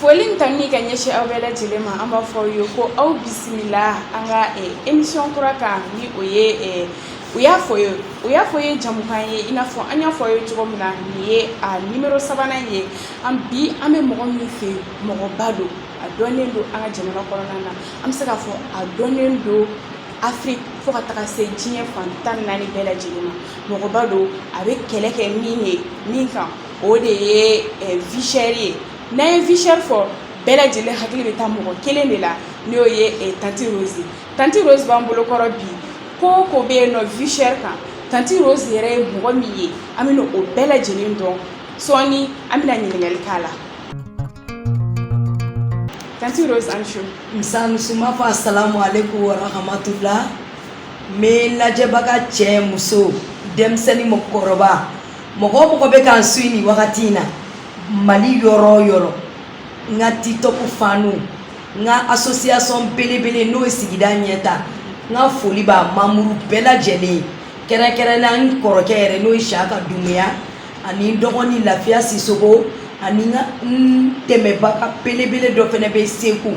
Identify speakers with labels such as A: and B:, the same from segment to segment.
A: Foli ta ka ɲɛsin aw bɛɛ lajɛlen ma an b'a fɔ aw ye ko aw bisimila an ka emisiyɔn kura kan ni o ye u y'a fɔ ye u y'a fɔ ye jamukan ye i n'a fɔ an y'a fɔ aw ye cogo min na nin ye a nimɔrɔ sabanan ye bi an bɛ mɔgɔ min fɛ mɔgɔba don a dɔnnen don an ka jamana kɔnɔna na an bɛ se k'a fɔ a dɔnnen don afiriki fo ka taga se diɲɛ fan tan naani bɛɛ lajɛlen ma mɔgɔba don a bɛ kɛlɛ kɛ min ye min kan o de ye visɛri ye n'an ye visɛri fɔ bɛɛ lajɛlen hakili bɛ taa mɔgɔ kelen de la n'o ye tanti roze tanti roze b'an bolo kɔrɔ bi ko o ko bɛ yen nɔ visɛri kan tanti roze yɛrɛ ye mɔgɔ min ye an bɛna o bɛɛ lajɛlen dɔn sɔɔni an bɛna ɲininkali k'a la tanti roze aw ni su nse n b'a fɔ
B: asalamu aleykum wa rahmatula n bɛ lajɛbaga cɛ muso denmisɛnnin mɔgɔkɔrɔba mɔgɔ o mɔgɔ bɛ k'an suiwi nin wagati in na mali yɔrɔ o yɔrɔ n ka tikitɔku fanw n ka asosiyasɔn belebele n'o ye sigida ɲɛta n ka foli b'a manburu bɛɛ lajɛlen ye kɛrɛnkɛrɛnna n kɔrɔkɛ yɛrɛ n'o ye siyaka dumuya ani n dɔgɔnin lafiya sisɔkɔ ani n ka n dɛmɛbaga belebele dɔ fana bɛ segu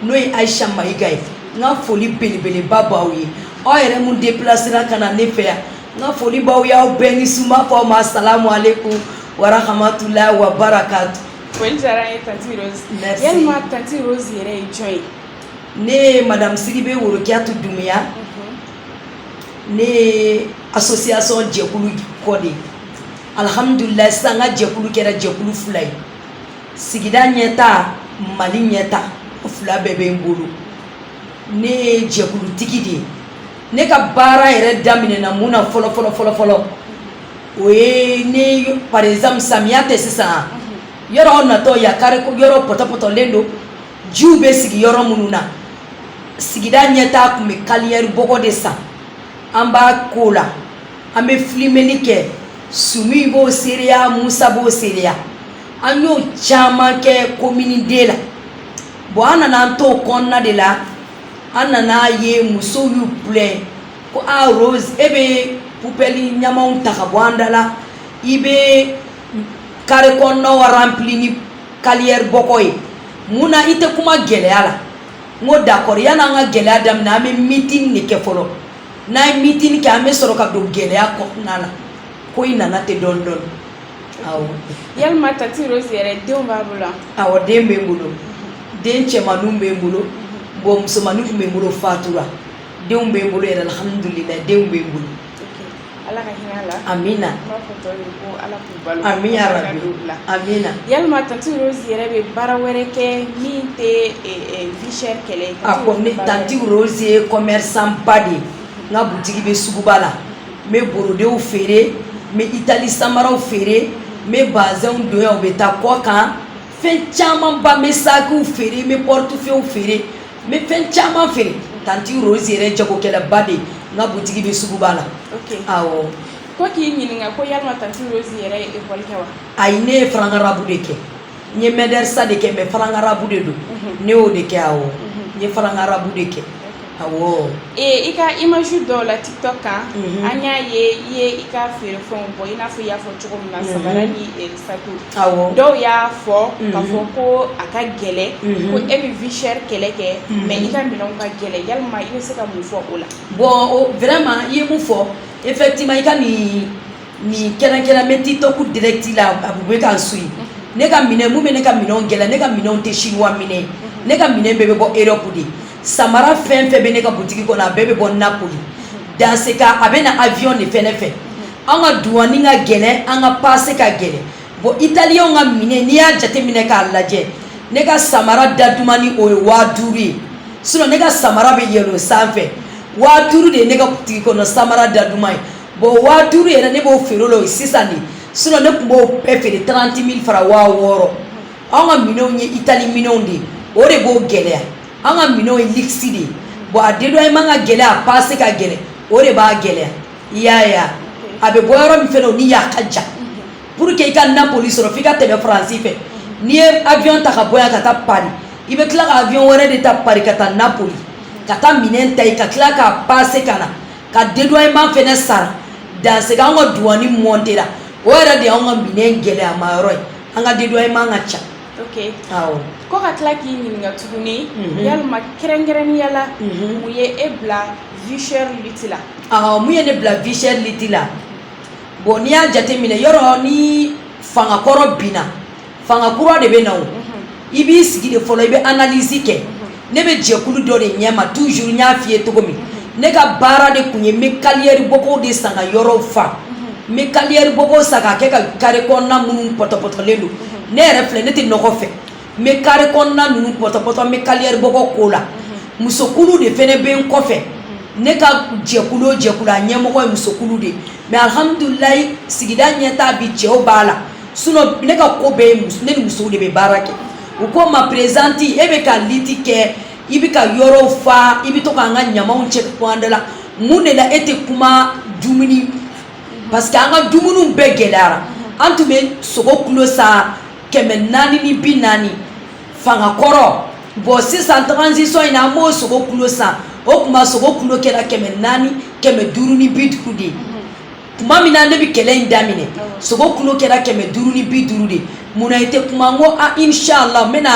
B: n'o ye ayisa mayiga ye n ka foli belebeleba b'aw ye aw yɛrɛ min depilasera ka na ne fɛ yan n ka foli b'aw y'aw bɛɛ ni su n b'a fɔ aw ma salamu aleykum warahamatulayi wa barakatu. foli diyara an ye
A: tanti rose. merci yalima tanti rose yɛrɛ ye jɔn ye. ne ye
B: madame sidibe worokiyatu dumuya. Mhm. ne ye association jɛkulu kɔ de ye alihamudulilayi sisan n ka jɛkulu kɛra jɛkulu fila ye sigida ɲɛta mali ɲɛta o fila bɛɛ bɛ n bolo. ne ye jɛkulutigi de ye ne ka baara yɛrɛ daminɛna mun na fɔlɔ fɔlɔ fɔlɔ fɔlɔ o ye ni par exemple samiya tɛ sisan yɔrɔ natɔ ya kari yɔrɔ pɔtɔpɔtɔlen don jiw bɛ sigi yɔrɔ minnu na sigida ɲɛta tun bɛ kaliyɛri bɔgɔ de san an b'a k'o la an bɛ filimeli kɛ sumi b'o seereya musa b'o seereya an y'o caman kɛ komini de la bɔn an nana an t'o kɔnɔna de la an nana ye musow y'u plɛn ko ah, rose e bɛ pubɛli ɲamanw ta ka bɔ an da la i bɛ kare kɔnɔnaw rempli ni kaliyɛri bɔgɔ ye mun na i tɛ kuma gɛlɛya la n ko d'accord yanni an ka gɛlɛya daminɛ an bɛ meeting de kɛ fɔlɔ n'an ye meeting kɛ an bɛ sɔrɔ ka don gɛlɛya kɔnɔna la ko in nana ten dɔɔni dɔɔni yalima
A: tanti rose yɛrɛ denw b'a bolo awɔ den bɛ n
B: bolo den cɛmanninw bɛ n bolo bon musomannin tun bɛ n bolo fatura denw bɛ n bolo yɛrɛ alhamdulilayi denw bɛ n bolo ala ka
A: hinɛ a la amina ala amin
B: amina yalima
A: tanti rose yɛrɛ bɛ baara wɛrɛ kɛ min tɛ vie chère kɛlɛ a ko ne tanti
B: rose ye commerçant ba de ye n ka butigi bɛ suguba la n bɛ borodew feere n bɛ itali samaraw feere n bɛ bazɛnw don yan u bɛ taa kɔkan fɛn camanba n bɛ sakiw feere n bɛ portefeuille feere n bɛ fɛn caman feere tanti rose yɛrɛ jagokɛlaba de n ka butigi bɛ suguba la
A: awɔ ko
B: k'i ɲininka
A: ko yalima tanti rose yɛrɛ ye ekɔli kɛ wa ayi ne ye farankarabu
B: de kɛ n ye mɛdrisa de kɛ mais farankarabu de don ne y'o de kɛ awɔ n ye farankarabu de kɛ awɔ i ka
A: image dɔw la tiktok kan an y'a ye i ye i ka feerefɛnw bɔ i n'a fɔ i y'a fɔ cogo min na sabara ni sakiw dɔw
B: y'a
A: fɔ k'a fɔ ko a ka gɛlɛn ko e bɛ vie chère kɛlɛ kɛ mais i ka minɛnw ka gɛlɛn yalima i bɛ se ka mun fɔ o la bon
B: vraiment i ye mun fɔ effectivement i ka nin nin kɛrɛnkɛrɛn bɛ tiktok direct la a bɛ k'an suivre ne ka minɛn mun bɛ ne ka minɛnw gɛlɛya ne ka minɛnw tɛ chinois minɛn ye ne ka minɛn bɛɛ bɛ bɔ Europe de samara fɛn fɛn bɛ ne ka butigi kɔnɔ a bɛɛ bɛ bɔ Napoli dans ce cas a bɛ na avion de fɛnɛ fɛ an ka douane ka gɛlɛn an ka passe ka gɛlɛn bon italien ka minɛn n'i y'a jateminɛ k'a lajɛ ne ka samara da dumannin o ye waa duuru ye sinon ne ka samara bɛ yɛlɛn o sanfɛ waa duuru de ye ne ka butigi kɔnɔ samara da duman ye bon waa duuru yɛrɛ ne b'o feere o la o ye sisan de sinon ne tun b'o bɛɛ feere 30 000 francs waa wɔɔrɔ anw ka minɛnw ye itali minɛnw de ye o de b'o gɛlɛya an ka minɛnw ye luxe de ye bon a dédouanement ka gɛlɛ a pase ka gɛlɛ o de b'a gɛlɛya i y'a ye a a bɛ bɔ yɔrɔ min fɛnɛ o ni yan ka jan pour que i ka napoli sɔrɔ f'i ka tɛmɛ faransi fɛ n'i ye avion ta ka bɔ yan ka taa paris i bɛ tila ka avion wɛrɛ de ta paris ka taa napoli ka taa minɛn ta yen ka tila k'a pase ka na ka dédouanement fɛnɛ sara dans ce cas an ka duwani montera o yɛrɛ de y'an ka minɛn gɛlɛyama yɔrɔ ye an ka dédouanement ka ca ok awɔ ko ka
A: tila k'i ɲininka tuguni mhm. yalima kɛrɛnkɛrɛnnenya la mhm. mun ye e bila vie chère lutte la awɔ mun ye ne
B: bila vie chère lutte la bon n'i y'a jateminɛ yɔrɔ ni fanga kɔrɔ binna fanga kura de bɛ na o i b'i sigi de fɔlɔ i bɛ analyse kɛ ne bɛ jɛkulu dɔ de ɲɛma toujours n y'a f'i ye cogo min ne ka baara de tun ye n bɛ carrière bɔgɔw de san ka yɔrɔw fa n bɛ carrière bɔgɔw san k'a kɛ ka carré kɔnɔna minnu pɔtɔpɔtɔlen don ne yɛrɛ filɛ ne tɛ nɔgɔ fɛ n bɛ carré kɔnɔna ninnu pɔtɔpɔtɔ n bɛ carrière bɔgɔ k'o la musokulu de fɛnɛ bɛ n kɔfɛ ne ka jɛkulu o jɛkulu a ɲɛmɔgɔ ye musokulu de ye mais alhamdulilayi sigida ɲɛtaa bi cɛw b'a la sinon ne ka ko bɛɛ ye ne ni musow de bɛ baara kɛ u ko ma présidente e bɛ ka lutte kɛ i bɛ ka yɔrɔw fa i bɛ to k'an ka ɲamaw cɛ ka bɔ an da la mun de la e tɛ kuma dumuni parce que an ka dumuni bɛɛ gɛlɛyara an tun bɛ sogo kilo san kɛmɛ naani ni bi naani fanga kɔrɔ bon sisan transition in na an b'o sogo kilo san o tuma sogo kilo kɛra kɛmɛ naani kɛmɛ duuru ni bi duuru de ye tuma min na ne bɛ kɛlɛ in daminɛ sogo kilo kɛra kɛmɛ duuru ni bi duuru de mun na i tɛ kuma n ko a inshallah n bɛna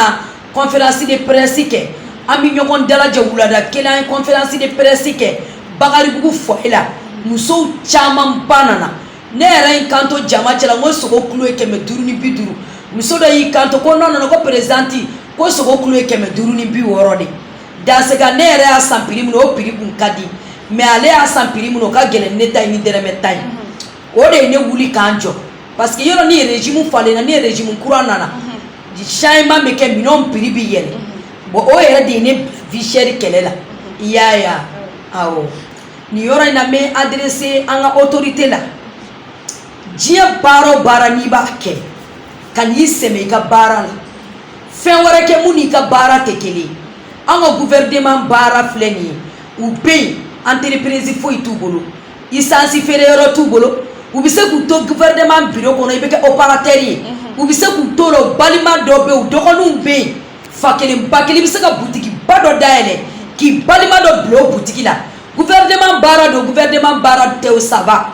B: conférence de presse kɛ an bɛ ɲɔgɔn dalajɛ wulada kelen an ye conférence de presse kɛ Bakaribugu foyer la musow camanba nana ne yɛrɛ y'i kanto jama cɛla n ko sogo kilo ye kɛmɛ duuru ni bi duuru muso dɔ y'i kanto ko non non non ko présidente ko sogo kilo ye kɛmɛ duuru ni bi wɔɔrɔ de Dans ce cas ne yɛrɛ y'a san prix min o prix kun ka di mais ale y'a san prix min o ka gɛlɛn ne ta ye ni dɔrɔmɛ tan ye o de ye ne wuli ka n jɔ parce que yɔrɔ ni régime falenna ni régime kura nana changement bɛ kɛ minɛnw prix bɛ yɛlɛ bon o yɛrɛ de ye ne vie chère kɛlɛ la i y'a ye awɔ nin yɔrɔ in na n bɛ adresser an ka autorité la diɲɛ baara o baara n'i b'a kɛ kan'i sɛmɛ i ka baara la fɛn wɛrɛ kɛ mun n'i ka baara tɛ kelen an ka gouvernement baara filɛ nin ye u bɛ yen entreprise foyi t'u bolo isansi feere yɔrɔ t'u bolo u bɛ se k'u to gouvernement biro kɔnɔ i bɛ kɛ opérateur ye u bɛ se k'u to la u balima dɔ bɛ yen u dɔgɔninw bɛ yen fa kelen ba kelen i bɛ se ka butigi ba dɔ dayɛlɛ k'i balima dɔ bila o butigi la gouvernement baara don gouvernement baara tɛ o saba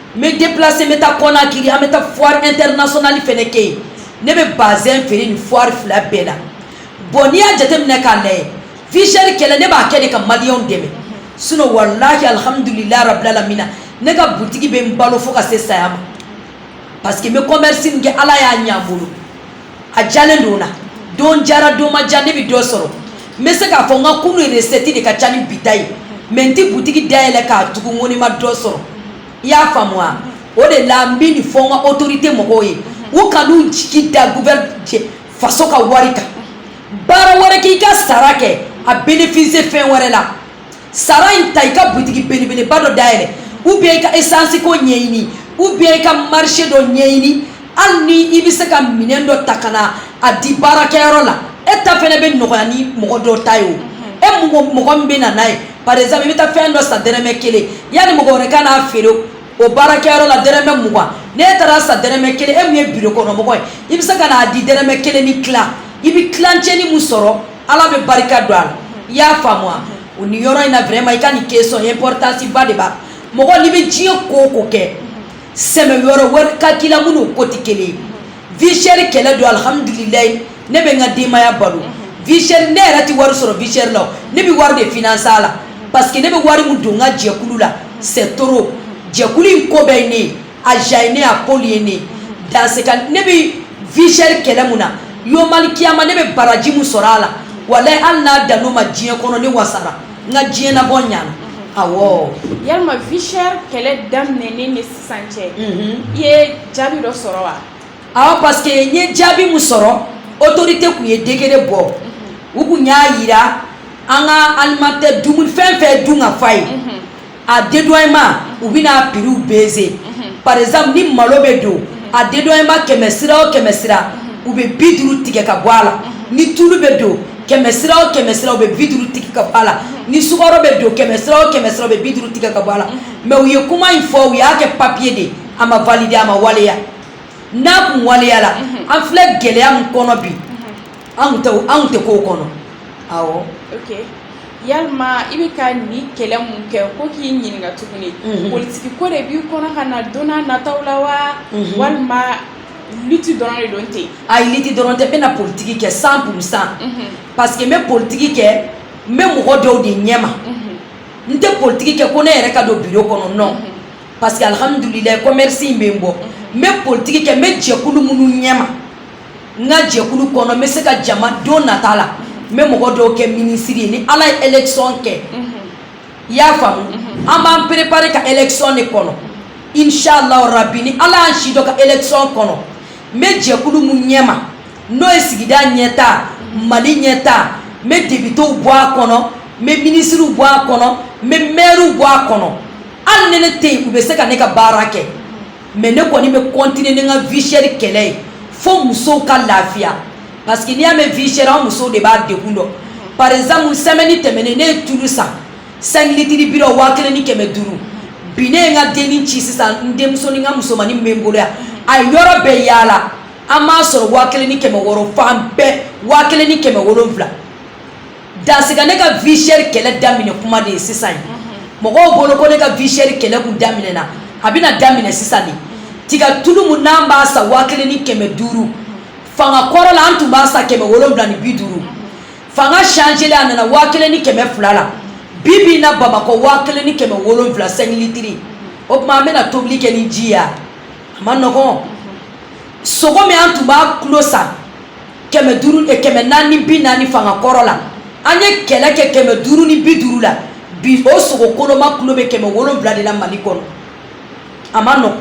B: n bɛ déplacer n bɛ taa Kɔnakiri an bɛ taa foire internationale fɛnɛ kɛ yen ne bɛ bazin feere nin foire fila bɛɛ la bon n'i y'a jateminɛ k'a lajɛ vie chère kɛlɛ ne b'a kɛ de ka maliyɛnw dɛmɛ sinon walahi alhamdulilayi rabbil alamina ne ka butigi bɛ n balo fo ka se saya ma parce que n bɛ commerce min kɛ ala y'a ɲɛ n bolo a jalen don na don jara don ma ja ne bɛ dɔ sɔrɔ n bɛ se k'a fɔ n ka kunun recette de ka ca ni bi ta ye mais n tɛ butigi dayɛlɛ k'a tugu n ko ne ma dɔ sɔrɔ i y'a faamu wa o de la n bɛ nin fɔ n ka autorité mɔgɔw ye u kan'u jigi da guvɛrɛn faso ka wari kan baara wɛrɛ k'i ka sara kɛ a bénéficier fɛn wɛrɛ la sara in ta i ka butigi belebeleba dɔ dayɛlɛ ou bien i ka esansiko ɲɛɲini ou bien i ka marché dɔ ɲɛɲini hali ni i bɛ se ka minɛn dɔ ta ka na a di baarakɛyɔrɔ la e ta fɛnɛ bɛ nɔgɔya ni mɔgɔ dɔ ta ye o e mɔgɔ mɔgɔ min bɛ na n'a ye par exemple i bɛ taa fɛn dɔ san dɛrɛmɛ kelen yanni mɔgɔ wɛrɛ ka n'a feere o baarakɛyɔrɔ la dɛrɛmɛ mugan n'e taara san dɛrɛmɛ kelen e min ye biro kɔnɔmɔgɔ ye i bɛ se ka n'a di dɛrɛmɛ kelen ni tila i bɛ tilancɛni min sɔrɔ ala bɛ barika don a la i y'a faamu wa o ni yɔrɔ in na vraiment i ka nin question importance ba de b'a mɔgɔ n'i bɛ diɲɛ ko o ko kɛ sɛmɛyɔrɔ wɛrɛ ka k'i la minnu ko tɛ kelen ye vie chère kɛlɛ don alihamdulilayi ne bɛ n ka denbaya balo vie chère ne yɛrɛ tɛ wari sɔrɔ vie chère la ne bɛ wari de financer a la paseke ne bɛ wari mun don n ka jɛkulu la c'est trop jɛkulu in ko bɛɛ ye ne ye a ja ye ne ye a pôle ye ne ye dans ce cas ne bɛ vie chère kɛlɛ min na yomali kiyama ne bɛ baraji mun sɔrɔ a la walayi hali n'a dan'o ma diɲɛ kɔnɔ ne wasara n ka diɲɛnabɔ ɲana awɔ
A: yalima vie chère kɛlɛ daminɛ san cɛ i ye jaabi dɔ sɔrɔ wa awɔ parce
B: que n ye jaabi min sɔrɔ autorité kun ye décret bɔ u kun y'a yira an ka alimentaire dumuni fɛn fɛn dunkafa ye a dédouanement u bɛna prix baisser par exemple ni malo bɛ don a dédouanement kɛmɛ sira o kɛmɛ sira u bɛ bi duuru tigɛ ka bɔ a la ni tulu bɛ don kɛmɛ sira o kɛmɛ sira u bɛ bi duuru tigɛ ka bɔ a la ni sukaro bɛ don kɛmɛ sira o kɛmɛ sira u bɛ bi duuru tigɛ ka bɔ a la mais u ye kuma in fɔ u y'a kɛ papiye de a ma valider a ma waleya n'a kun waleya la mhm. an filɛ gɛlɛya min kɔnɔ bi mhm. anw tɛ k'o kɔnɔ awɔ
A: ok yalima i bɛ ka nin kɛlɛ mun kɛ ko k'i ɲininka tuguni mhm. politiki ko de b'i kɔnɔ ka na don n'a nataw la wa mhm. walima lutte dɔrɔn de don ten ayi lutte dɔrɔn tɛ n
B: bɛna politiki kɛ cent pour cent mhm. parce que n bɛ politiki kɛ n bɛ mɔgɔ dɔw de ɲɛma n tɛ politigi kɛ ko ne yɛrɛ ka don biro kɔnɔ non parce que alihamdulilayi komɛrisi in bɛ n bɔ n bɛ politigi kɛ n bɛ jɛkulu minnu ɲɛma n ka jɛkulu kɔnɔ n bɛ se ka jama don nata la n bɛ mɔgɔ dɔw kɛ minisiri ye ni ala ye élection kɛ i y'a faamu an b'an préparer ka élection de kɔnɔ inshallah rabbi ni ala y'an si dɔ ka élection kɔnɔ n bɛ jɛkulu mun ɲɛma n'o ye sigida ɲɛta mali ɲɛta n bɛ depitew bɔ a kɔnɔ n bɛ minisiriw bɔ a kɔnɔ n bɛ mɛriw bɔ a kɔnɔ hali ni ne tɛ yen u bɛ se ka ne ka baara kɛ mais ne kɔni bɛ continuer ni n ka vie chère kɛlɛ ye fo musow ka lafiya parce que n'i y'a mɛn vie chère an musow de b'a degun dɔn par exemple semaine tɛmɛnen ne ye tulu san cinq litres bi waa kelen ni kɛmɛ duuru bi ne ye n ka denni ci sisan n denmuso ni n ka musomannin min bɛ n bolo yan a ye yɔrɔ bɛɛ yaala a m'a sɔrɔ waa kelen ni kɛmɛ wɔɔrɔ fan bɛɛ waa kelen ni kɛmɛ wolonwula dans ce cas ne ka vie chère kɛlɛ daminɛ kuma de ye sisan ye mɔgɔw bolo ko ne ka vie chère kɛlɛ kun daminɛna a bɛna daminɛ sisan de tiga tulu mun n'an b'a san waa kelen ni kɛmɛ duuru fanga kɔrɔ la an tun b'a san kɛmɛ wolonwula ni bi duuru fanga changelen a nana waa kelen ni kɛmɛ fila la bi bi na bamakɔ waa kelen ni kɛmɛ wolonfila cinq litres o tuma an bɛna tobili kɛ ni ji ya a man nɔgɔn sogo min an tun b'a kulo san kɛmɛ duuru eh, kɛmɛ naani bi naani fanga kɔrɔ la an ye kɛlɛ kɛ kɛmɛ duuru ni bi duuru la bi o sogo koloma kulo bɛ kɛmɛ wolonfila de la mali kɔnɔ a man nɔgɔn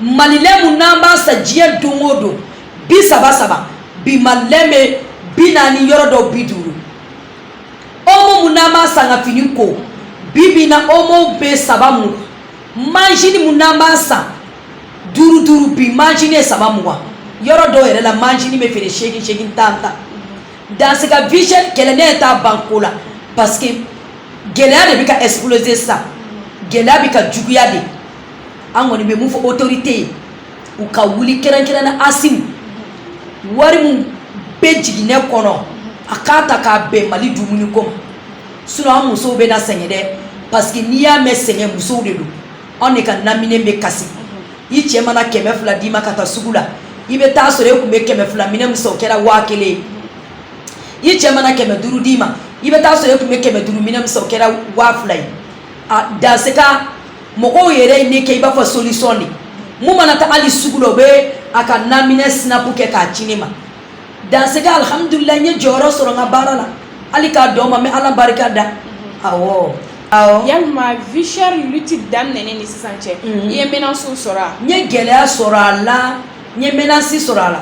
B: malilɛ mun n'an b'a san diɲɛ don o don bi saba saba bi malilɛ bɛ bi naani yɔrɔ dɔw bi duuru omo mun n'an b'a san ka fini ko bi bi na omo bɛ saba mugan majinin mun n'an b'a san duuru duuru bi majinin ye saba mugan yɔrɔ dɔw yɛrɛ la majinin bɛ feere seegin seegin tan tan dans ce cas vie chère kɛlɛ ne t'a ban ko la parce que gɛlɛya de bɛ ka exploser sisan gɛlɛya bɛ ka juguya de an kɔni bɛ mun fɔ autorité ye u ka wuli kɛrɛnkɛrɛnna asimi wari min bɛ jiginɛ kɔnɔ a k'a ta k'a bɛn mali dumuni ko ma sinon an musow bɛna sɛgɛn dɛ parce que n'i y'a mɛn sɛgɛn musow de don anw de ka naminɛ bɛ kasi i cɛ mana kɛmɛ fila d'i ma ka taa sugu la i bɛ taa sɔrɔ e tun bɛ kɛmɛ fila minɛ min san o kɛra waa kelen i cɛ mana kɛmɛ duuru d'i ma i bɛ taa sɔrɔ e tun bɛ kɛmɛ duuru minɛ min san o kɛra waa fila ye a dans ce cas mɔgɔw yɛrɛ ye ne kɛ i b'a fɔ solution de mun mana taa hali sugu la o bɛ a ka naminɛ sinapu kɛ k'a ci ne ma dans ce cas alihamudulilayi n ye jɔyɔrɔ sɔrɔ n ka baara la hali k'a dɔn ma n bɛ ala barika da awɔ awɔ
A: yalima vie chère lutte daminɛnen ni sisan cɛ i ye menace sɔrɔ a n ye gɛlɛya
B: sɔrɔ a la n ye menace sɔrɔ a la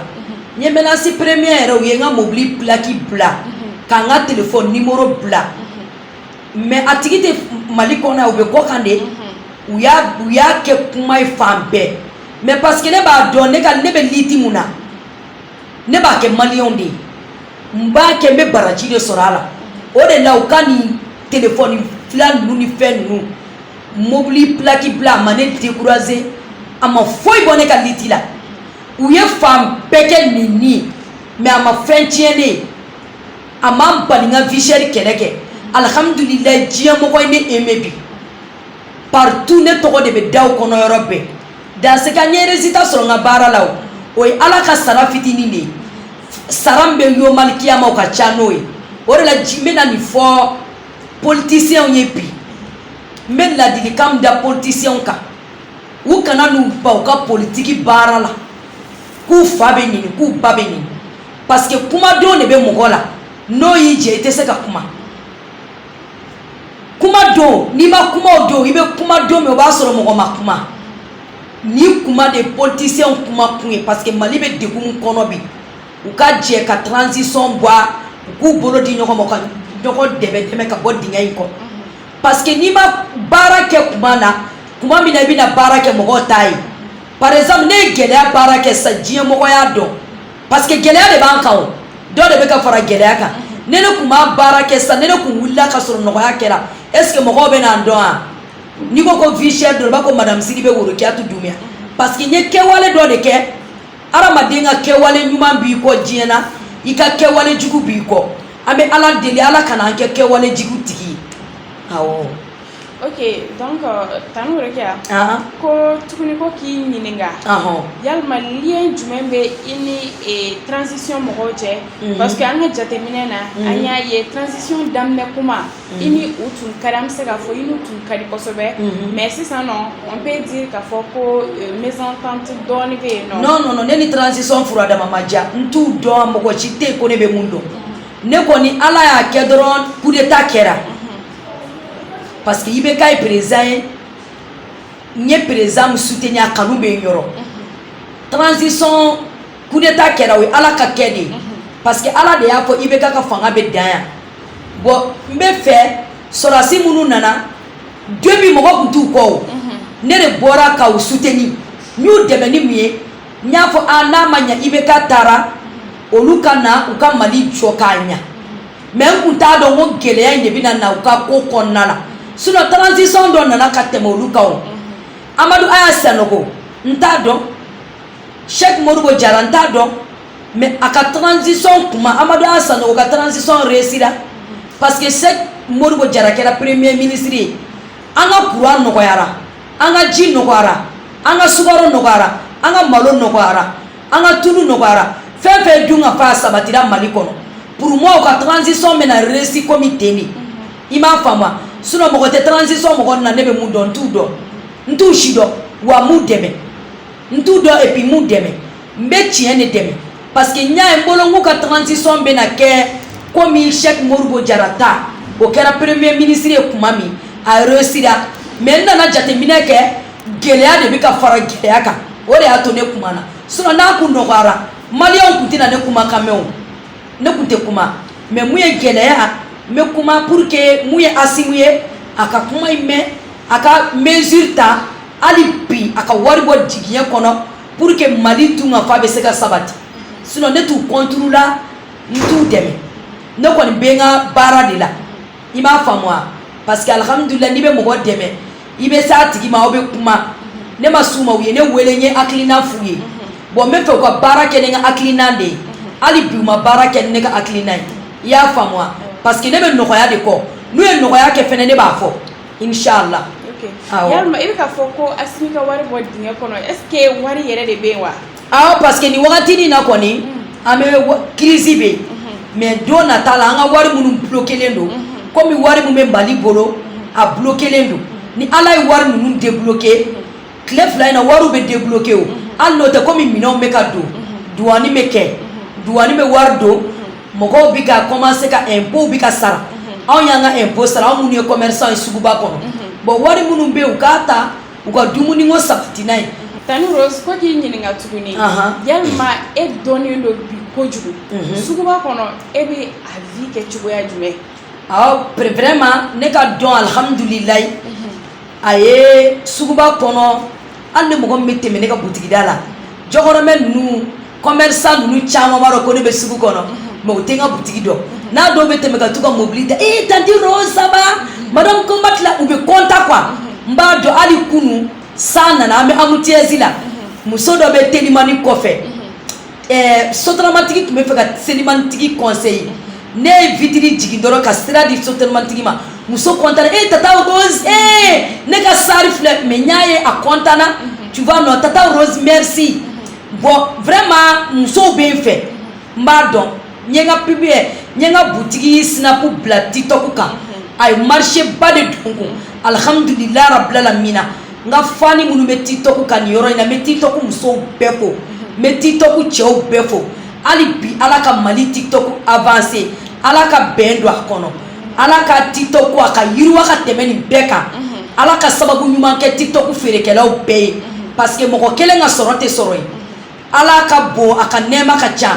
B: n ye menace premier yɛrɛ u ye n ka mobili plaki bila ka n ka telefɔni nimoro bila mais a tigi tɛ mali kɔnɔ u bɛ kɔ kan de u y'a kɛ kuma ye fan bɛɛ mais parce que ne b'a dɔn ne ne bɛ lutte min na ne b'a kɛ maliyɛnw de ye n b'a kɛ n bɛ baraji de sɔrɔ a la o de la u ka nin telefɔni fila ninnu ni fɛn ninnu mobili plaki bila a ma ne décourager a ma foyi bɔ ne ka lutte la u ye fan bɛɛ kɛ nin mais a ma fɛn tiɲɛ ne a ma bali n ka vie chère kɛlɛ kɛ alihamudulilayi diɲɛmɔgɔ ye ne aimé bi partout ne tɔgɔ de bɛ daw kɔnɔ yɔrɔ bɛɛ dans ce cas n ye résultat sɔrɔ n ka baara la o o ye ala ka sara fitinin de ye sara min bɛ yomali kiyama o ka ca n'o ye o de la n bɛna nin fɔ politiciens ye bi n bɛ ladilikan min da politiciens kan u kana n'u ban u ka politiki baara la k'u fa bɛ neni k'u ba bɛ neni parce que kuma don de bɛ mɔgɔ la n'o y'i jɛ i tɛ se ka kuma kuma don n'i ma kuma o don i bɛ kuma don min o b'a sɔrɔ mɔgɔ ma kuma ni kuma de politiciens kuma kun ye parce que mali bɛ degun min kɔnɔ bi u ka jɛ ka transition bɔ a u k'u bolo di ɲɔgɔn ma ka ɲɔgɔn dɛmɛ dɛmɛ ka bɔ dingɛ in kɔnɔ parce que n'i ma baara kɛ kuma na kuma min na i bɛna baara kɛ mɔgɔw t'a ye par exemple ne ye gɛlɛya baara kɛ sisan diɲɛmɔgɔ y'a dɔn parce que gɛlɛya de b'an kan o dɔ de bɛ ka fara gɛlɛya kan ni ne kun ma baara kɛ sa ni ne kun wulila ka sɔrɔ nɔgɔya kɛra est ce que mɔgɔw bɛna n dɔn wa n'i ko ko vie chère dɔrɔn i b'a ko madame sidibe worokiyatu dumbiya parce que n ye kɛwale dɔ de kɛ hadamaden ka kɛwale ɲuman b'i kɔ diɲɛ na i ka kɛwale jugu b'i kɔ an bɛ ala deli ala kana an kɛ kɛwale jugu tigi ye awɔ
A: Ok donc Tanti Worokiya ko tuguni ko k'i ɲininka yalima lien jumɛn bɛ i ni transition mɔgɔw cɛ parce que an ka jateminɛ na an y'a ye transition daminɛ kuma i ni u tun ka di an bɛ se k'a fɔ i n'u tun ka di kosɛbɛ mais sisan nɔ on peut dire k'a fɔ ko mésentente dɔɔnin bɛ yen nɔ, non non ne ni
B: transition furadama ma diya n t'u dɔn mɔgɔ si tɛ yen ko ne bɛ min dɔn ne kɔni Ala y'a kɛ dɔrɔn coup d'Etat kɛra parce que IBK ye président ye n ye président min soutenir a kanu bɛ n yɔrɔ transition coup d'état kɛra o ye ala ka kɛ de ye parce que ala de y'a fɔ IBK ka fanga bɛ dan yan bon n bɛ fɛ sɔrɔdasi minnu nana début mɔgɔ kun t'u kɔ o ne de bɔra ka u soutenir n y'u dɛmɛ ni mun ye n y'a fɔ a n'a ma ɲɛ IBK taara olu ka na u ka mali jɔ k'a ɲɛ mais n kun t'a dɔn ko gɛlɛya in de bɛna na u ka ko kɔnɔna la sinon transition dɔ nana ka tɛmɛ olu kan o amadu aya sanogo n t'a dɔn cheick modibo jara n t'a dɔn mais a ka transition kuma amadu aya sanogo ka transition réussira parce que cheick modibo jara kɛra premier ministre ye an ka courant nɔgɔyara an ka ji nɔgɔyara an ka sukaro nɔgɔyara an ka malo nɔgɔyara an ka tulu nɔgɔyara fɛn fɛn dunkafa sabatira mali kɔnɔ pour moi u ka transition bɛna réussi komi ten de i m'a faamu sinon mɔgɔ tɛ transition mɔgɔ na ne bɛ mun dɔn n t'u dɔn n t'u si dɔn wa n m'u dɛmɛ n t'u dɔn et puis n m'u dɛmɛ n bɛ tiɲɛ de dɛmɛ parce que n y'a ye n bolo n k'u ka transition bɛna kɛ komi Cheikh Modibo Jara ta o kɛra premier ministre ye kuma min a réussira mais n nana jateminɛ kɛ gɛlɛya de bɛ ka fara gɛlɛya kan o de y'a to ne kumana sinon n'a kun nɔgɔyara maliyɛnw kun tɛna ne kumakan mɛn o ne kun tɛ kuma mais mun ye gɛlɛya n bɛ kuma pour que mun ye asimi ye a ka kuma in mɛn a ka mesure ta hali bi a ka wari bɔ jigiɲɛ kɔnɔ pour que mali dunkafa bɛ se ka sabati sinon ne t'u contre la n t'u dɛmɛ ne kɔni bɛ n ka baara de la i m'a faamu wa parce que alhamdulilayi n'i bɛ mɔgɔ dɛmɛ i bɛ s'a tigi ma aw bɛ kuma ne ma s'u ma u ye ne wele n ye hakilina f'u ye bɔn n b'a fɛ u ka baara kɛ ni n ka hakilina de ye hali bi u ma baara kɛ ne ka hakilina ye i y'a faamu wa parce que ne bɛ nɔgɔya de kɔ n'u ye nɔgɔya kɛ fɛnɛ ne b'a fɔ
A: inchallah i bɛ k'a fɔ ko asimi ka wari bɔ dingɛ kɔnɔ est-ce que wari yɛrɛ de bɛ yen wa awɔ parce que
B: nin wagati in na kɔni mm. an bɛ kirisi bɛ mm-hmm. mais don nata la an ka wari minnu blokelen don mm-hmm. komi wari min bɛ mali bolo mm-hmm. a blokelen don ni ala ye wari ninnu debloke tile fila in na wariw bɛ debloke o hali n'o tɛ komi minɛnw bɛ ka don duwani bɛ kɛ duwani bɛ wari don mɔgɔw bɛ ka commencer ka impôts bɛ ka sara anw y'an ka impôts sara anw minnu ye commerçant ye suguba kɔnɔ bon wari minnu bɛ yen u k'a ta u ka dumuni ko sabati n'a ye tanti rose ko
A: k'i ɲininka tuguni yalima e dɔnnen don bi kojugu suguba kɔnɔ e bɛ a vie kɛ cogoya jumɛn vraiment ne ka dɔn alihamdulilayi a ye suguba kɔnɔ hali ni mɔgɔ min bɛ tɛmɛ ne ka butigida la jɔkɔrɔmɛ ninnu commerçant ninnu caman b'a dɔn ko ne bɛ sugu kɔnɔ mais u tɛ n ka butigi dɔn n'a dɔw bɛ tɛmɛ ka t'u ka mobili ta ee tanti rose ça va madame kɔnbati la u bɛ kɔnta quoi n b'a dɔn hali kunu san nana an bɛ embouteillage la muso dɔ bɛ telimani kɔfɛ ɛɛ sotaramatigi tun bɛ fɛ ka telimanitigi coincer ne ye vitiri jigin dɔrɔn ka sira di sotaramatigi ma muso kɔntana ee tata rose ee ne ka star filɛ mais n y'a ye a kɔntana tu vois non tata rose merci bɔn vraiment musow bɛ n fɛ n b'a dɔn n ye n ka publier n ye n ka butigi sinapu bila tiktok kan a ye marché ba de don n kun alihamudulilahi rabilalamina n ka fani minnu bɛ tiktok kan nin yɔrɔ in na n bɛ tiktok musow bɛɛ fo n bɛ tiktok cɛw bɛɛ fo hali bi ala ka mali tiktok avanse ala ka bɛn don a kɔnɔ ala ka tiktok a ka yiriwa ka tɛmɛ nin bɛɛ kan ala ka sababu ɲuman kɛ tiktok feerekɛlaw bɛɛ ye parce que mɔgɔ kelen ka sɔrɔ tɛ sɔrɔ ye ala ka bon a ka nɛɛma ka ca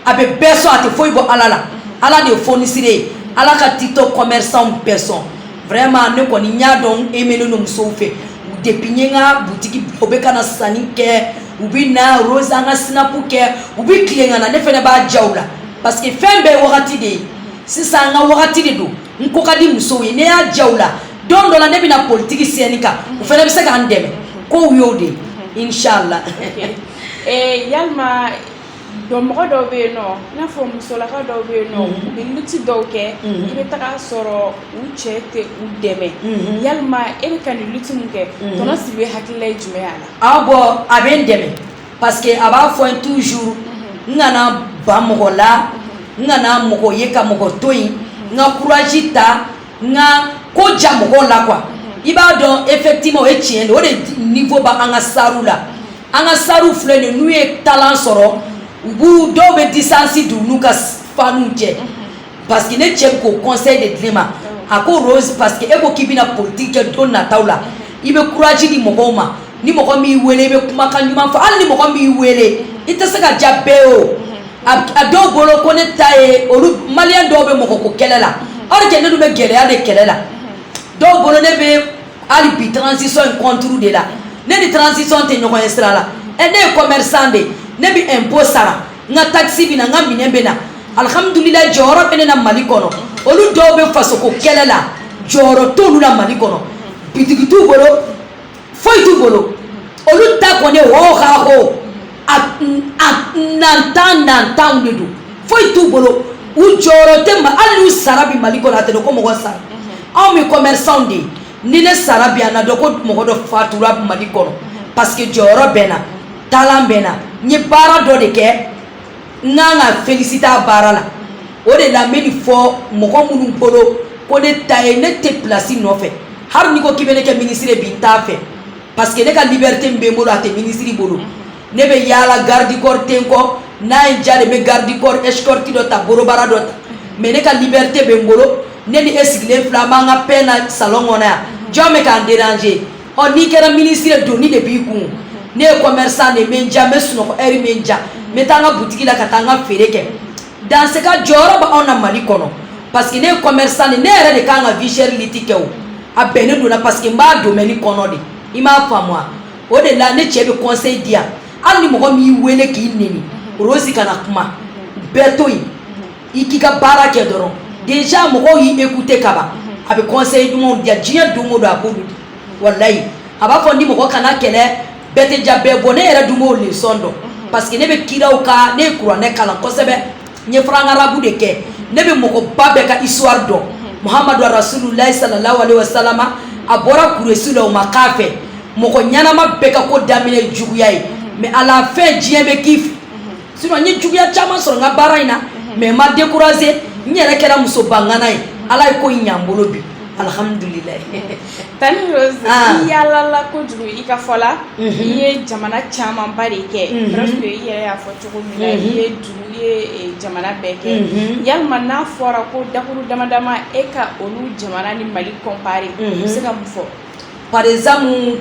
A: a bɛ bɛɛ sɔn a tɛ foyi bɔ ala la ala de ye fonisire ye ala ka tiktok commerçant bɛɛ sɔn vraiment ne kɔni n y'a dɔn e mɛnen don musow fɛ depuis n ye n ka butigi o bɛ ka na sanni kɛ u bɛ na rose n ka sinapu kɛ u bɛ tilen ka na ne fana b'a ja u la parce que fɛn bɛɛ ye wagati de ye
B: sisan n ka wagati de don n ko ka di musow ye ne y'a ja u la don dɔ la ne bɛ na politiki scène kan u fana bɛ se ka n dɛmɛ ko y'o de ye inshallah eh, yalima
A: dɔ mɔgɔ dɔw bɛ yen nɔ i n'a fɔ musolaka dɔw bɛ yen nɔ mhm. u bɛ luti dɔw kɛ mhm. i bɛ taga sɔrɔ u cɛ tɛ u dɛmɛ mhm. yalima e bɛ ka nin luti min kɛ tɔntɔn sidibe hakilila ye jumɛn y'a la. awɔ a bɛ n
B: dɛmɛ. parce que a b'a fɔ n ye toujours n kana ban mɔgɔ la n kana mɔgɔ ye ka mɔgɔ to yen n ka courage ta n ka ko ja mɔgɔw la quoi i b'a dɔn effectivement o ye tiɲɛ de o de niveau ba an ka starw la an ka starw filɛ nin n'u ye talent sɔrɔ u b'u dɔw bɛ distance don u n'u ka fanw cɛ. parce que ne cɛ k'o conseil de di ne ma a ko rose parce que e ko k'i bɛna politique kɛ don nataw la i bɛ courage di mɔgɔw ma ni mɔgɔ min y'i wele i bɛ kumakan ɲuman fɔ hali ni mɔgɔ min y'i wele i tɛ se ka diya bɛɛ ye o a dɔw bolo ko ne ta ye olu maliyɛn dɔw bɛ mɔgɔ ko kɛlɛ la or que ne dun bɛ gɛlɛya de kɛlɛ la dɔw bolo ne bɛ hali bi transition in contre de la ne ni transition tɛ ɲɔgɔn ye sira la ɛ ne ye commerçant de ye ne bɛ impôt sara n ka takisi bɛ na n ka minɛn bɛ na alihamudulila jɔyɔrɔ bɛ ne na mali kɔnɔ olu dɔw bɛ fasoko kɛlɛ la jɔyɔrɔ t'olu la mali kɔnɔ bitigi t'u bolo foyi t'u bolo olu ta kɔni hoo ka hoo a a nantan nantanw de don foyi t'u bolo u jɔyɔrɔ tɛ ma hali n'u sara bi mali kɔnɔ a tɛ dɔn ko mɔgɔ sara anw bɛ commerçants de ye ni ne sara bi a na dɔn ko mɔgɔ dɔ fatura mali kɔnɔ parce que jɔyɔrɔ bɛ n na talent bɛ n na n ye baara dɔ de kɛ n kan ka felisite a baara la o de la n bɛ nin fɔ mɔgɔ minnu bolo ko ne ta ye ne tɛ pilasi nɔfɛ hali n'i ko k'i bɛ ne kɛ minisiri ye bi n t'a fɛ parce que ne ka liberite min bɛ n bolo a tɛ minisiri bolo. ne bɛ yaala garde corps tɛ n kɔ n'a diyara n ye n bɛ garde corps escorte dɔ ta gros bras dɔ ta mais ne ka liberite bɛ n bolo ne ni e sigilen fila b'an ka pena salon kɔnɔ yan jɔn bɛ k'an déranger ɔ n'i kɛra minisiri ye doni de b'i kun ne ye commerçant de min diya n bɛ sunɔgɔ heure min diya n bɛ taa n ka butigi la ka taa n ka feere kɛ dans ce cas jɔyɔrɔ bɛ anw na mali kɔnɔ parce que ne ye commerçant de ne yɛrɛ de kan ka vie chère lutte kɛ o a bɛnnen don n na parce que n b'a domaine kɔnɔ de i m'a faamu o de la ne cɛ bɛ conseil di yan hali ni mɔgɔ min y'i wele k'i neni Rose kana kuma bɛɛ to yen i k'i ka baara kɛ dɔrɔn déjà mɔgɔw y'i écouter kaban a bɛ conseil ɲumanw di yan diɲɛ don o don a ko di walayi a b'a fɔ n ye mɔgɔ kana kɛlɛ bɛɛ tɛ jaabi bɔ ne yɛrɛ dun b'o leçon dɔn parce que ne bɛ kiraw ka ne ye kuranɛ kalan kosɛbɛ ye franco-arabe de kɛ ne bɛ mɔgɔba bɛɛ ka histoire dɔn muhamadu rasululayi salalahu alayhi wa salama a bɔra kuresi la o ma k'a fɛ mɔgɔ ɲɛnama bɛɛ ka ko daminɛ juguya ye mais à la fin diɲɛ bɛ k'i fɛ sinon n ye juguya caman sɔrɔ n ka baara in na mais n ma décourager n yɛrɛ kɛra musoba ngana ye ala ye ko ɲa n bolo bi alihamdulila Tanti
A: Rose i yaalala kojugu i ka fɔ la i ye jamana camanba de kɛ presque i yɛrɛ y'a fɔ cogo min na i ye duniya jamana bɛɛ kɛ yalima n'a fɔra ko dakuru dama dama e ka olu jamana ni mali comparer i bɛ se ka mun fɔ par
B: exemple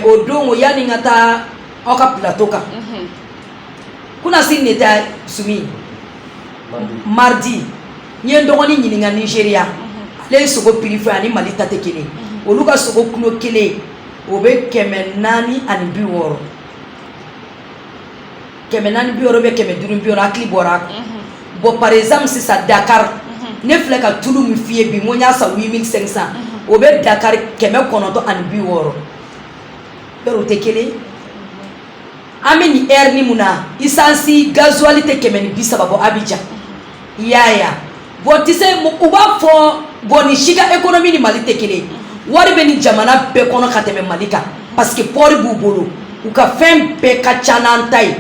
B: o don o yanni n ka taa aw ka plateau kan kunasini ne taa su min mardi n ye n dɔgɔnin ɲininka nigeria ale ye sogo prix fɔ ani mali ta tɛ kelen olu ka sogo kilo kelen o bɛ kɛmɛ naani ani bi wɔɔrɔ kɛmɛ naani bi wɔɔrɔ bɛ kɛmɛ duuru bi wɔɔrɔ hakili bɔra a kan mhm. bɔn par exemple sisan dakar mhm. ne filɛ ka tulu min f'i ye bi n ko n y'a san 8500 mhm. o bɛ dakar kɛmɛ kɔnɔntɔn ani bi wɔɔrɔ yɔrɔ o tɛ kelen an bɛ nin ɛri ni mun na isansi gazuwali tɛ kɛmɛ ni bi saba bɔ abijan i y'a ye bɔn tise u b'a fɔ bɔn ni si ka économie ni mali tɛ kelen wari bɛ ni jamana bɛɛ kɔnɔ ka tɛmɛ mali kan parce que port b'u bolo u ka fɛn bɛɛ ka ca n'an ta ye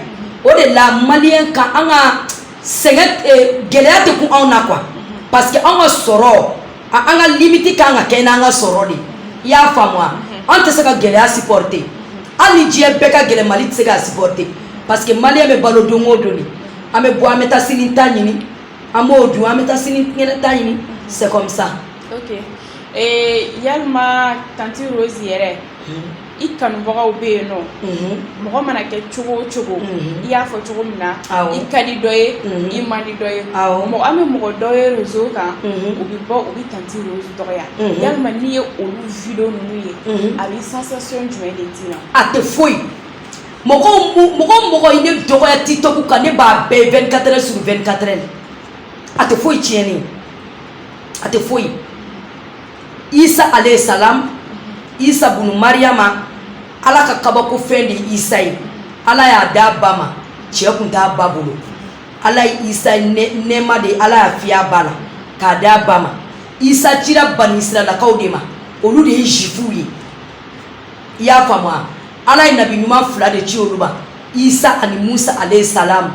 B: o de la malien ka an ka sɛgɛn eh, gɛlɛya tɛ kun anw na quoi parce que an ka sɔrɔ an ka limite ka kan ka kɛ n'an ka sɔrɔ de i y'a faamu an tɛ se ka gɛlɛya supporter hali ni diɲɛ bɛɛ ka gɛlɛn mali tɛ se ka supporter parce que malien bɛ balo don o don de an bɛ bɔ an bɛ taa sini ta ɲini an b'o dun an bɛ taa sini kɛnɛ ta ɲini c'est comme ça ok
A: ee yalima tanti Rose yɛrɛ i kanubagaw bɛ yen non mɔgɔ mana kɛ cogo o cogo i y'a fɔ cogo min na i ka di dɔ ye i man di dɔ ye an bɛ mɔgɔ dɔw ye réseau kan u bɛ bɔ u bɛ tanti Rose dɔgɔya yalima n'i ye olu video ninnu ye a bɛ sensation jumɛn de d'i ma a tɛ foyi
B: mɔgɔ mɔgɔ i ne dɔgɔya TikTok kan ne b'a bɛɛ 24 heures sur 24 heures a tɛ foyi tiɲɛ n ye a tɛ foyi isa alayhi salam isa bunu mariyama ala ka kabako fɛn de isa ye ala y'a d'a ba ma cɛ kun t'a ba bolo ala ye isa nɛɛma de ala y'a fiy'a ba la k'a d'a ba ma isa cira bani israɛlakaw de ma olu de ye zifuw ye i y'a faamu wa ala ye nabi ɲuman fila de ci olu ma isa ani musa alayhi salam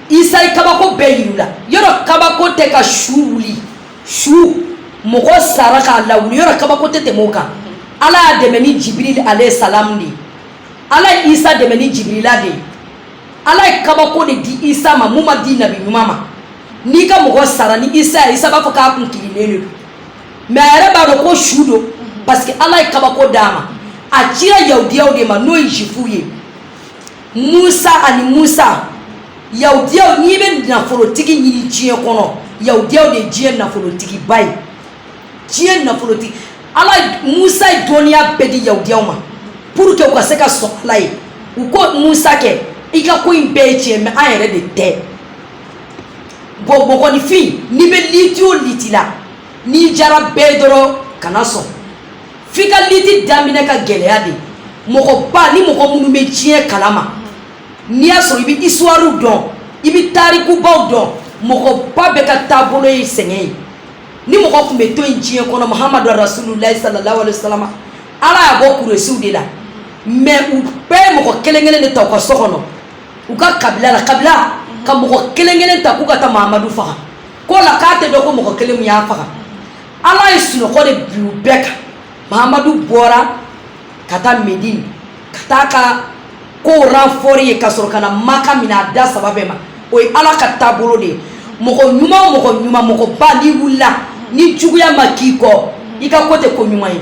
B: isa ye kabako bɛɛ yir'u la yɔrɔ kabako tɛ ka su wuli su mɔgɔ sara k'a lawuli yɔrɔ kabako tɛ tɛmɛ o kan ala y'a dɛmɛ ni jibiril alayhi salam de ala ye isa dɛmɛ ni jibirila de ye ala ye kabako de di isa ma mun ma di nabi ɲuman ma n'i ka mɔgɔ sara ni isa y'a ye isa b'a fɔ k'a kun kirinnen de don mɛ a yɛrɛ b'a dɔn ko su don parce que ala ye kabako d'a ma a cira yahudiyaw de ma n'o ye zifuw ye isa ani musa yahudiyaw n'i bɛ nafolotigi ɲini diɲɛ kɔnɔ yahudiyaw de ye diɲɛ nafolotigiba ye diɲɛ nafolotigi ala musa ye dɔnniya bɛɛ di yahudiyaw ma pour que u ka se ka sɔn ala ye u ko musa kɛ i ka ko in bɛɛ ye tiɲɛ mɛ an yɛrɛ de tɛ bɔn mɔgɔninfin n'i bɛ liti o liti la n'i jara bɛɛ ye dɔrɔn kana sɔn f'i ka liti daminɛ ka gɛlɛya de mɔgɔba ni mɔgɔ minnu bɛ diɲɛ kalama n'i y'a sɔrɔ i bɛ histoirew dɔn i bɛ tarikubaw dɔn mɔgɔba bɛɛ ka taabolo ye sɛgɛn ye ni mɔgɔ tun bɛ to yen diɲɛ kɔnɔ mahamadu rasululayi salalahu alayhi wa salam ala y'a bɔ kuresiw de la mɛ u bɛɛ ye mɔgɔ kelen kelen de ta u ka so kɔnɔ u ka kabila la kabila ka mɔgɔ kelen kelen ta k'u ka taa mahamadu faga k'o la k'a tɛ dɔn ko mɔgɔ kelen min y'a faga ala ye sunɔgɔ de bin u bɛɛ kan mahamadu bɔra ka taa medine ka taa ka ko ranfɔri yen ka sɔrɔ ka na maka minɛ a da saba bɛɛ ma o ye ala ka taabolo de ye mɔgɔ ɲuman o mɔgɔ ɲuman mɔgɔba n'i wulila ni juguya ma k'i kɔ i ka ko tɛ ko ɲuman ye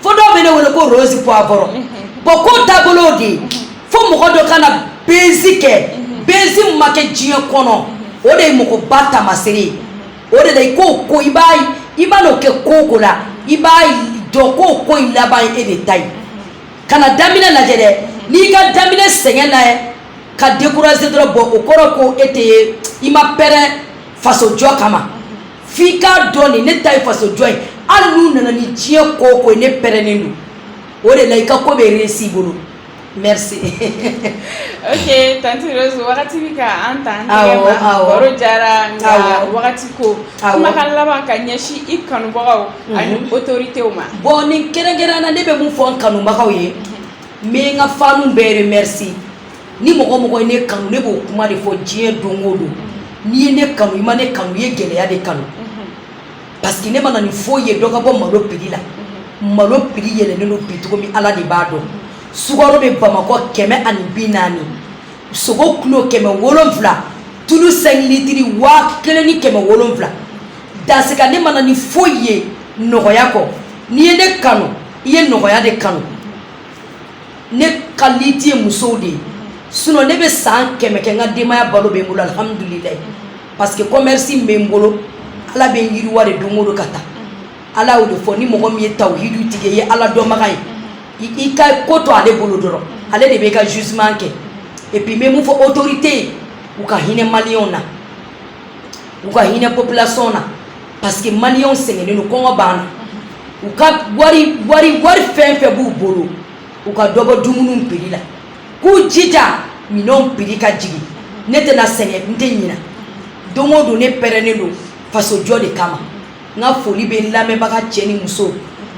B: fo dɔw bɛ ne wele ko rose poivron bɔn ko taabolo de ye fo mɔgɔ dɔ ka na bezi kɛ bezi min ma kɛ diɲɛ kɔnɔ o de ye mɔgɔba taamasere ye o de la i k'o ko i b'a i ma n'o kɛ ko o ko la i b'a dɔn k'o ko in laban ye e de ta ye kana daminɛ lajɛ dɛ n'i ka daminɛ sɛgɛn lajɛ ka décourager dɔrɔn bɔn o kɔrɔ ko e tɛ i ma pɛrɛn fasojɔ kama f'i k'a dɔn de ne ta ye fasojɔ ye hali n'u nana ni diɲɛ ko o ko ye ne pɛrɛnnen don o de la i ka ko bɛ réussir i bolo merci
A: ok tanti rose wagati bɛ ka an ta an tɛgɛ ma baro jara nka wagati ko kumakan laban ka ɲɛsin i kanubagaw ani mhm. autoritew ma bon nin kɛrɛnkɛrɛnna
B: ne bɛ mun fɔ n kanubagaw ye n bɛ n ka fanw bɛɛ remercier ni mɔgɔ o mɔgɔ ye ne kanu ne b'o kuma de fɔ diɲɛ don o don n'i ye ne kanu i ma ne kanu i ye gɛlɛya de kanu parce que ne ma na ni foyi ye dɔ ka bɔ malo prix la malo prix yɛlɛnnen don bi cogo min ala de b'a dɔn sukaro bɛ bamakɔ kɛmɛ ani bi naani sogo kilo kɛmɛ wolonfila tulu cinq litres waa kelen ni kɛmɛ wolonfila dans ce cas ne ma na ni foyi ye nɔgɔya kɔ n'i ye ne kanu i ye nɔgɔya de kanu ne ka lutte ye musow de ye sinon ne bɛ san kɛmɛ kɛ n ka denbaya balo bɛ n bolo alihamudulilayi parce que commerce bɛ n bolo ala bɛ n yiriwa de don o don ka taa ala y'o de fɔ ni mɔgɔ min ye tawuhidu tigi ye ala dɔnbaga ye i ka ko to ale bolo dɔrɔn ale de bɛ i ka jugement kɛ et puis n bɛ mun fɔ autorité ye u ka hinɛ maliyɛnw na u ka hinɛ population na parce que maliyɛnw sɛgɛnnen don kɔngɔ b'an na u ka wari fɛn fɛn b'u bolo u ka dɔ bɔ dumuniw prix la k'u jija minɛnw prix ka jigin ne tɛna sɛgɛn n tɛ ɲina don o don ne pɛrɛnnen don fasojɔ de kama n ka foli bɛ n lamɛnbaga cɛ ni muso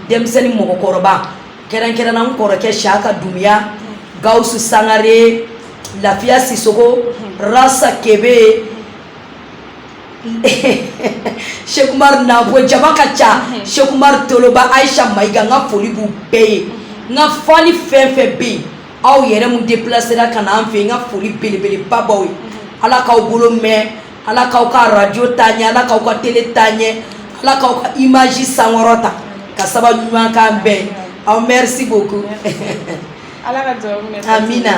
B: denmisɛnnin mɔgɔkɔrɔba kɛrɛnkɛrɛnna n kɔrɔkɛ siyaka dunbiya gawusu sangare lafiya sisoko rasa kebe sɛki umaru nabo jama ka ca sɛki umaru toloba ayisa mayiga n ka foli b'u bɛɛ ye n ka fani fɛn fɛn bɛ yen aw yɛrɛ mun déplacéra ka na an fɛ yen n ka foli belebeleba b'aw ye ala k'aw bolo mɛn ala k'aw ka radio taa ɲɛ ala k'aw ka télé taa ɲɛ ala k'aw ka image sankɔrɔta ka sababu ɲuman k'an bɛɛ aw merci beaucoup ala
A: ka duwawu minɛ amina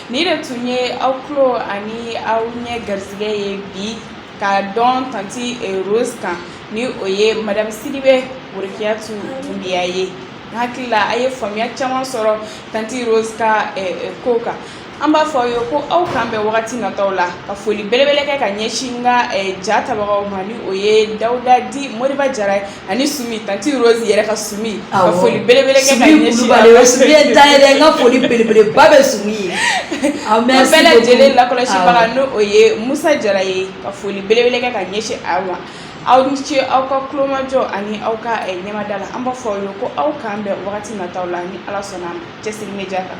B: nin de tun
A: ye aw tulo ani aw ɲɛ garisɛgɛ ye bi ka dɔn tanti eh, rose kan ni o ye madame sidibe worikiyatu dunbiya ye n hakili la a ye faamuya caman sɔrɔ tanti rose ka eh, eh, ko kan an b'a fɔ aw ye ko aw k'an bɛn wagati nataw la ka foli belebele kɛ ka ɲɛsin n ka eh, ja tabagaw ma ni o ye dawuda dit moriba jara ye ani sumi tanti rose yɛrɛ ka sumi ka Awɔ. foli belebele kɛ ka Sumi ɲɛsin Kulubali, o ye Sumi ye ta ye dɛ,
B: n ka foli belebeleba bɛ Sumi ye. Aw, An
A: merci bɛɛ lajɛlen beaucoup. lakɔlɔsibaga Awɔ. ni o ye musa jara ye ka foli belebele kɛ ka ɲɛsin aw ma aw ni ce aw ka kulomajɔ ani aw ka eh, ɲɛmada la an b'a fɔ aw ye ko aw k'an bɛn wagati nataw la ni ala sɔnna a ma cɛsiri media kan